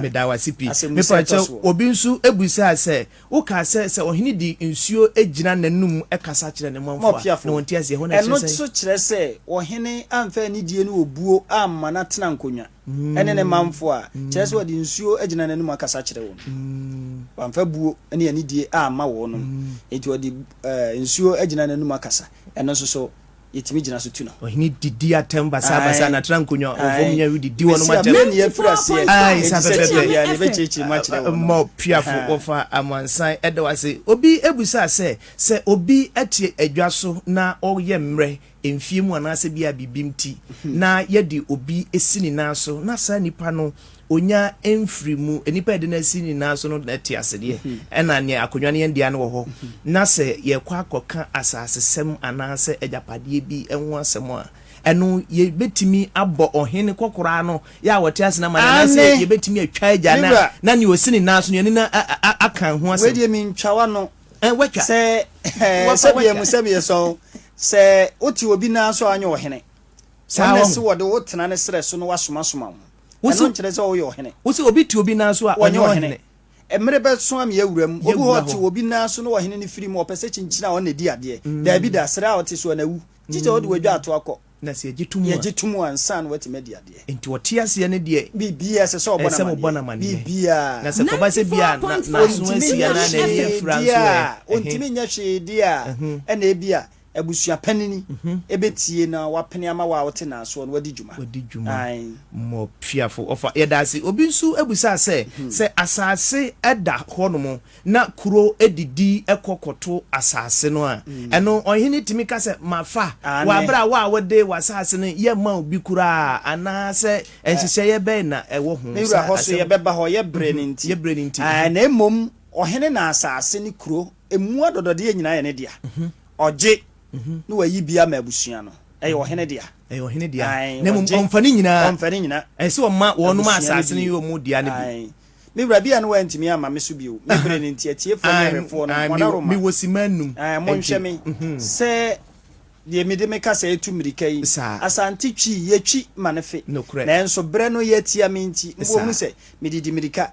Speaker 1: Meda wo ase pii. Mepa kyɛw, obi nso bisaa sɛ, Wokaa sɛ, sɛ ɔhene de nsuo gyina n'anom kasa kyerɛ ne manfo a, na wɔnte aseɛ. Ɛhɔ no ɛkyerɛ sɛn? Ɛno nso kyerɛ sɛ ɔhene amfa anidie ne obuo amma no atena nkonnwa ne ne manfo a, kyerɛ sɛ ɔde nsuo agyina n'anom akasa akyerɛ wɔn. Wamfa buo ne anidie amma wɔnom, enti ɔde nsuo agyina n'anom akasa. Ɛno nso so yɛtumi gyina so tu no. Ɔhene didi atɛm basabasa na tra nkonnwa ɔfam nyɛ didi wɔn atɛm. Mesia bɛni afiri aseɛ. Ayi sa pɛpɛpɛ. Yɛ ne bɛkyerɛkyerɛ mu akyerɛ wɔn. Mmɔ piafo wɔfa amansan ɛda wase. Obi ebusa sɛ sɛ obi ɛte adwa so na ɔyɛ mmerɛ mfie mu anaasɛ bi a biribi nti na yɛde obi esi ne nan so na saa nipa no onya mfiri mu, nnipa a yɛde no asi nyinaa so no te ase deɛ, ɛna neɛ akonnwa no yɛn dea no wɔ hɔ, na sɛ yɛkɔ akɔka asasesɛm anaasɛ agyapadeɛ bi ho asɛm a, ɛno yɛbɛtumi abɔ ɔhene kɔkoraa no yɛ a wɔte ase no amanneɛ, anaasɛ yɛbɛtumi atwa agya no a na neɛ ɔsi ne nan so no yɛne no aka ho asɛm. Wei deɛ mentwa w'ano sɛ sɛdeɛ mu sɛ meyɛ sɔn sɛ wote obi nan so a ɔnyɛ ɔhene, wɔn na ɛse wɔde wo tena ne serɛ so na wasomasoma wo. Ɛno nkyerɛ sɛ woyɛ ɔhene. Wose obi te obi nan so a, ɔnyɛ ɔhene. Mmere bɛso a meɛ awura mu. Obi hɔ te obi nan so na ɔhene no firi mu, ɔpɛ sɛ kyinkyin a ɔna di adeɛ. Daabi da, serɛ a ɔte so a na awu. Gye sɛ ɔde wadwa ato akɔ. Na sɛ yɛgye to mu a. Yɛgye to mu a, ansa na watumi adi adeɛ. Enti ɔte aseɛ no deɛ. Biribiara ɛsɛ sɛ ɔbɔ no amaneɛ. Biribiara. Na sɛ ɛkɔba sɛ bi a n'aso asi anaa n'ani afira nso ɛ? Ɔntumi nyɛ hwee di a, ɛna ebi a. Abusua panini bɛtie na wapene ama wo a wote n'asoɔ no wadi dwuma. Wadi dwuma. Ae. Mmɔ piafo ɔfa. Yɛda ase. Obi nso bisaa sɛ, sɛ asase da hɔnom na kuro didi kɔ kɔto asase no a, ɛno ɔhene tumi ka sɛ, Mafa wɔ berɛ a wo a wode w'asase no yɛmma obi koraa anaasɛ nhyehyɛeɛ bɛn na ɛwɔ ho? Me wura, hɔ so yɛbɛba hɔ yɛ berɛ no nti. Yɛ berɛ no nti. Ae, na mmom ɔhene na asase ne kuro Emu adɔdɔdeɛ nyinaa yɛ ne dea. Ɔgye na wayi bi ama abusua no. Ɛyɛ ɔhene dea. Ɛyɛ ɔhene dea. Na mmom ɔmfa ne nyinaa. Ɔmfa ne nyinaa. Ɛyɛ sɛ ɔma wɔnom a asase no yɛ wɔn dea no bi. Me wura, ebia na wantumi amma me so bio. Me bere no nti, atiefoɔ ne ahwɛfoɔ no, wɔnaroma. Mewɔ simma nnum. Monhwɛ me sɛ deɛ mede me kasa retu mmirika yi. Asante Twi, yɛtwi ma no fe. Nanso berɛ no yɛ atia me nti, mobɛhunu sɛ medidi mmirika.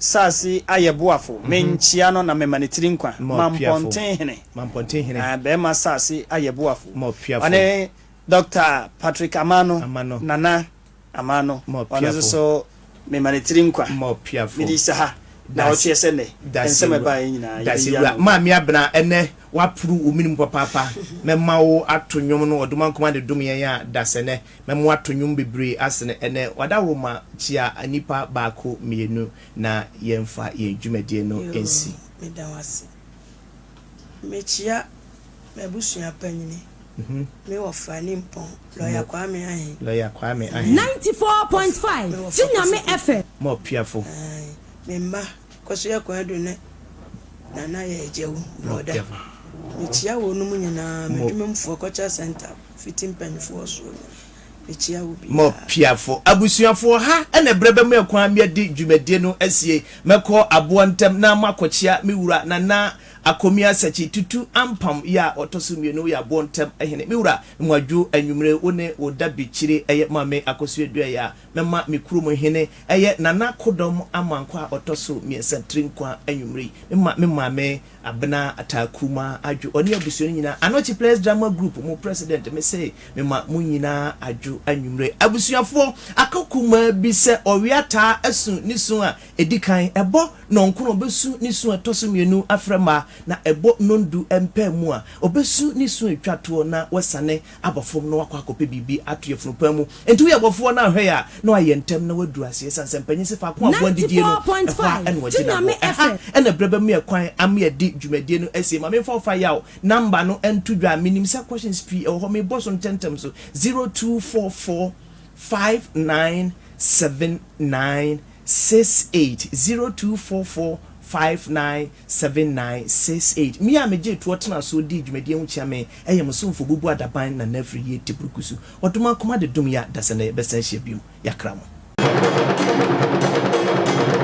Speaker 1: Saase ayɛ boafo, menkyea no na mema ne tiri nkwa, Mampɔnten hene, ɛɛ, bɛɛma saase ayɛ boafo, ɔne Dɔkta Patrick Amano, Nana Amano, ɔno nso so mema ne tiri nkwa, mede saha na ɔtweɛ sɛ nnɛ nsɛm ɛbaeɛ nyinaa yɛbɛyi ano. Dase wura Maame Abena, ɛnnɛ waporo wo mene mu papaapa, mɛma wo ato nwom no, ɔdomankoma na ɛdom yɛn a, dasɛ nnɛ. Na mo ato nwom bebree asene ɛnɛ wadawroma kyia nipa baako mmienu na yɛn fa yɛn dwumadie no nsi. Yoo me da wase. Me kyia m'abusua panyini, me wɔfa Nimpɔn, Lɔya Kwame Ahen. Lɔya Kwame Ahen. Ninety four point five, Kye Nyame FM. Mo apiafo. Ae, me mma Kosua Kwadwo ne Nana Yɛagyaw Brɔda. Mekyia wɔnom nyinaa, m'adwuma mu foɔ, Culture Centre fiti mpanyinfoɔ soɔ no, mekyia obiara. Mopiafo abusuafoɔ, ha na ɛberɛ bɛma yɛn kwan ma yɛadi dwumadie no asie. Mɛkɔ aboa ntɛm na moakɔkyia me wura Nana Akomia Sakyi Tutu Ampam yɛ a ɔtɔ so mmienu, woyɛ aboɔ ntɛm hene. Me wura, Mwadwo, anwummere wo ne wo dabikyire ɛyɛ Maame Akosua Duayi a Mɛma me kurom hene yɛ Nana Akodɔm Amankwah a ɔtɔ so mmiɛnsa tiri nkwa anwummere yi. Mema me maame Abena Ataa Krumah adwo, ɔne abusua no nyinaa. Anokye Players Drama Group mo president, me se mema mo nyinaa adwo anwummere. Abusuafoɔ, aka kumaa bi sɛ ɔwea taa asu ne su a ɛdi kan, ɛbɔ nnɔnkron, ɔbɛsu ne su a ɛtɔ so mmienu afrɛ mmaa, na ɛbɔ nnɔndu mpaa mu a, ɔbɛsu ne su a ɛtwa toɔ na wasane. abɔ fam na wakɔ akɔpɛ biribi ato yafunu paa mu. Enti woyɛ bɔfoɔ no a, hwɛ yɛ a na wayɛ ntɛm na waduru aseɛ ɛsiane sɛ mpanyin se faako a aboa didie no, ɛhɔ ara na wɔgye no aboɔ. Ɛha na ɛberɛ bɛma me kwan ama yɛadi dwumadie no asie. Ma memfa ɔfa yaw namba no nto dwa. Menim sɛ questions pii wɔ hɔ. Mebɔ so ntɛmntɛm so, zero two four four five nine seven nine six eight, zero two four four five nine Seven nine six eight Me a megyee toɔ tenaa soɔ dii dwumadie ho kyea me yɛ mo somfo Obubu Adaban Nana firi Yie Teburukusu Ɔdom akoma de dom yɛa dasɛ na yɛbɛsan ahyia biom Yɛakra mo.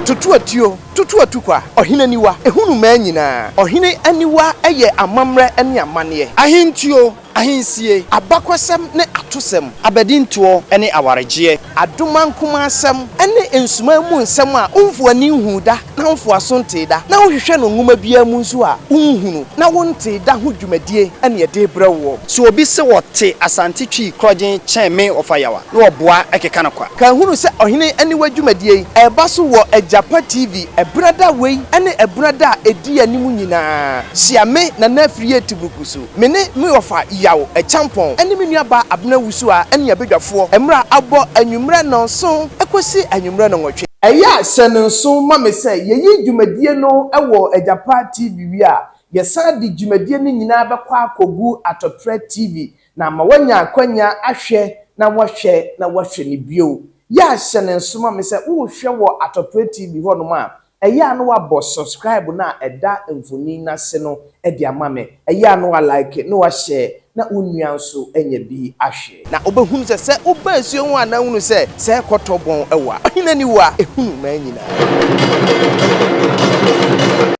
Speaker 1: Tutu atuo, tutu atukwa, ɔhene aniwa, ɛhunu mmaa nyinaa, ɔhene aniwa yɛ amammerɛ ne amanneɛ. Ahentuo, Ahensie, abakɔsɛm ne atosɛm, abadintoɔ ne awaregyeɛ, adomankomasɛm ne nsumaa mu nsɛm a womfo ani nhuu da na womfo aso ntee da na wohwehwɛ no nwoma biara mu nso a wonhunu na wontee da ho dwumadie na yɛde rebrɛ woɔ. Sɛ obi se ɔte Asante Twi korɔgyen kyɛn me ɔfa yaw a, na ɔboa keka no kwa. Ka hunu sɛ Ɔhene Aniwa dwumadie yi reba so wɔ Agyapa TV Ɛberɛ da wei ne ɛberɛ da a ɛdi anim nyinaa. Hyia me, Nana Afriyie Teburuku so. Me ne me wɔfa Yaw Acheampong ne me nuabaa Abena Wusuah ne yɛn badwafoɔ mmra abɔ anwummerɛ nnɔnson kɔsi anwummerɛ nnɔnwɔtwe. Ɛyɛ a hyɛ no nsow ma me sɛ yɛyi dwumadie no wɔ Agyapa TV wie a, yɛsan de dwumadie no nyinaa bɛkɔ akɔgu Atɔprɛ TV na ama woanya akwanya ahwɛ na woahwɛ na woahwɛ no bio. Yɛ a hyɛ no nso ma me sɛ wohwɛ wɔ Atɔprɛ TV hɔnom a, Ɛyɛ a na wabɔ subscribe no a ɛda mfonin no ase no de ama me. Ɛyɛ a na wa like na wa share na wo nua nso anya bi ahwɛ. Na wobɛhunu sɛ sɛ woba asuo ho a na hunu sɛ sɛ rekɔtɔ bɔn wɔ a ɔhene aniwa hunu mmaa nyinaa.